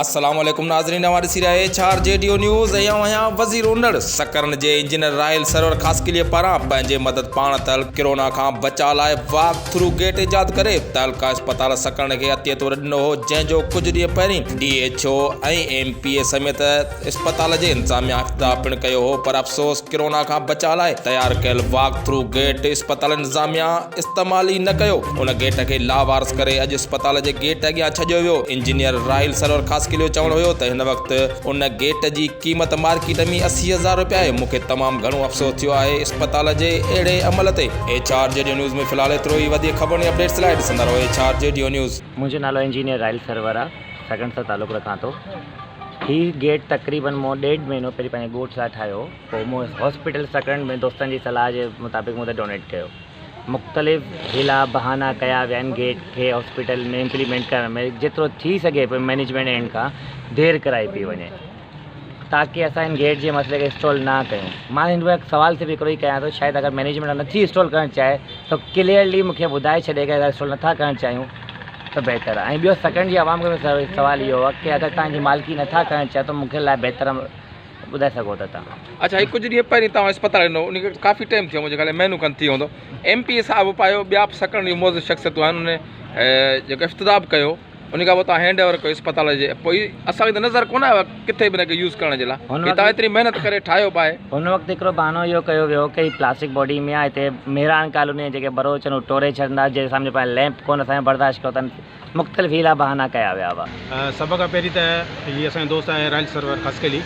السلام عليڪم ناظرين اوهان ڏسي رهيا ايڇ آر جي ڊيو نيوز ۽ آئون آهيان وزير اونڙ سڪرن جي انجنيئر راحيل سرور خاصخيلي پاران پنهنجي مدد پاڻ تهلڪ ڪرونا کان بچاء لاء واڪ ٿرو گيٽ ايجاد ڪري تهلڪا اسپتال سڪرن کي عطيي طور ڏنو هو جنهن جو ڪجهه ڏينهن پهرين D H O ۽ M P A سميت اسپتال جي انتظاميا افتتاح پڻ ڪيو هو پر افسوس ڪرونا کان بچاء لاء تيار ڪيل واڪ ٿرو گيٽ اسپتال انتظاميا استعمال ئي نه ڪيو ان گيٽ کي لاوارث ڪري اڄ اسپتال جي گيٽ اڳيان ڇڏيو ويو انجنيئر راحيل سرور خاصخيلي جو چوڻ هيو ته هن وقت ان گيٽ جي قيمت مارڪيٽ ۾ اسي هزار روپيا آهي مون کي تمام گهڻو افسوس ٿيو آهي اسپتال جي اهڙي عمل تي ايڇ آر جي ڊيو نيوز ۾ في الحال ايترو ئي وڌيڪ خبرن ۽ اپڊيٽس لاء ڏسندا رهو ايڇ آر جي ڊيو نيوز. منهنجو نالو انجنيئر راحيل سرور آ سڳڻ سر تعلق رکان ٿو هي گيٽ تقريبن مون ڏيڍ مهينو پهرين پنهنجي ڳوٺ لاء ٺاهيو پوء مون هاسپيٽل سڪرنڊ ۾ دوستن جي صلاح جي مطابق مون تي ڊونيٽ ڪيو مختلف حيلا بهانا ڪيا ويا آهن گيٽ کي هاسپيٽل ۾ امپليمينٽ ڪرڻ ۾ جيترو ٿي سگهي پيو مئنيجمينٽ اينڊ کان دير ڪرائي پئي وڃي تاڪي اسان ھن گيٽ جي مسئلي کي اسٽول نه ڪيون مان ھن وقت سوال صرف ھڪڙو ئي ڪيان ٿو شايد اگر مئنيجمينٽ نٿي اسٽول ڪرڻ چاھي ته ڪليئرلي مونکي ٻڌائي ڇڏي ڪي اگر اسٽول نٿا ڪرڻ چاھيون ته بهتر ۽ ٻيو سيڪنڊ جي عوام کي سوال اھو آھي ڪي اگر توھان جي مالڪي نٿا ڪرڻ چاھيو ته مونکي لاء بهتر ٻڌائي سگهو ٿا توھان. اچھا ھي ڪجھ ڏينھن پھرين توھان اسپتال ڏنو ان کي ڪافي ٽيم ٿيو منھنجي خيال ۾ مھينو کن ٿي ويندو ايم پي اي صاحب اپائيو ٻيا به سيڪنڊ جي معزز شخصيتون آھن انھن جيڪو افتتاح به ڪيو انهي کان پوء توهان هينڊ اوور ڪيو اسپتال جي پوء اسان کي ته نظر ڪونه آيو آهي ڪٿي به هن کي يوز ڪرڻ جي لاء هن وقت توهان ايتري محنت ڪري ٺاهيو به آهي. هن وقت هڪڙو بهانو اهو ڪيو ويو ڪي هي پلاسٽڪ باڊي ۾ آهي هتي ميراڻ ڪالوني جا جيڪي بروچ آهن اهي ٽوري ڇڏندا جي سامهون پاڻ ليمپ ڪونه اسان کي برداشت ڪيو اٿن مختلف هيلا بهانا ڪيا ويا هئا. سڀ کان پهرين ته هي اسان جو دوست آهي رائل سرور خاصخيلي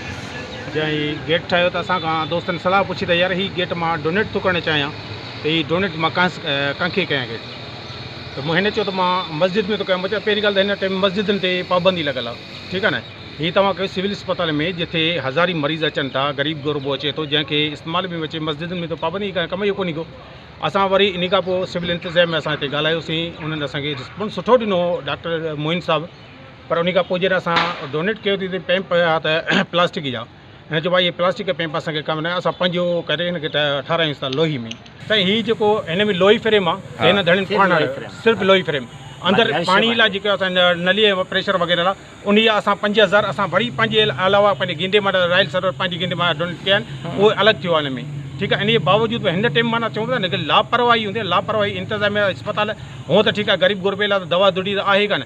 جنهن هي گيٽ ٺاهيو ته اسان کان دوستن صلاح پڇي ته يار هي گيٽ مان ڊونيٽ ٿو ڪرڻ چاهيان ته هي ڊونيٽ مان ڪانهس ڪانکي ڪيان گيٽ ته مون هن چيو ته مان مسجد ۾ ٿو ڪيم بچا پهرين ڳالهه ته هن ٽائيم مسجدن تي پابندي لڳل آ ٺيڪ آ نه هي توهان کي سول اسپتال ۾ جٿي هزارين مريض اچن ٿا غريب غربو اچي ٿو جنهن کي استعمال ۾ اچي مسجدن ۾ ته پابندي هي ڪم جو ڪونهي ڪو اسان وري انهي کان پوء سول انتظام ۾ اسان هتي ڳالهايو سين انهن اسان کي رسپانس سٺو ڏنو هو ڊاڪٽر معين صاحب پر انهي کان پوء جڏهن اسان ڊونيٽ ڪيو ته پيمپ هيا ته پلاسٽڪ جا هن چيو ڀائي هي پلاسٽڪ پيپ اسان کي ڪم نه آهي اسان پنهنجو ڪري هن کي ٺارايونس ٿا لوهي ۾ سائين هي جيڪو هن ۾ لوهي فريم آهي ته هن ڌڻين پاڻ صرف لوهي فريم اندر پاڻي لاء جيڪو اسان نلي پريشر وغيره لاء ان جا اسان پنج هزار اسان وري پنهنجي علاوه پنهنجي گينڊي ماٽ رائل سرور پنهنجي گينڊي ماٽ ڊونيٽ ڪيا آهن اهو الڳ ٿيو آهي هن ۾ ٺيڪ آهي ان جي باوجود به هن ٽيم معنيٰ چون ٿا لاپرواهي هوندي لاپرواهي انتظاميه اسپتال هونء ته ٺيڪ آهي غريب غربي لاء ته دوا دڙي ته آهي ڪانه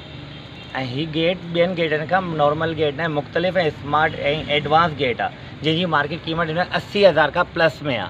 ۽ هي گيٽ ٻين گيٽن کان نارمل گيٽ ناهي مختلف ۽ اسمارٽ ۽ ايڊوانس گيٽ آ جنهن جي مارڪيٽ قيمت هن وقت اسي هزار کان پلس ۾ آ.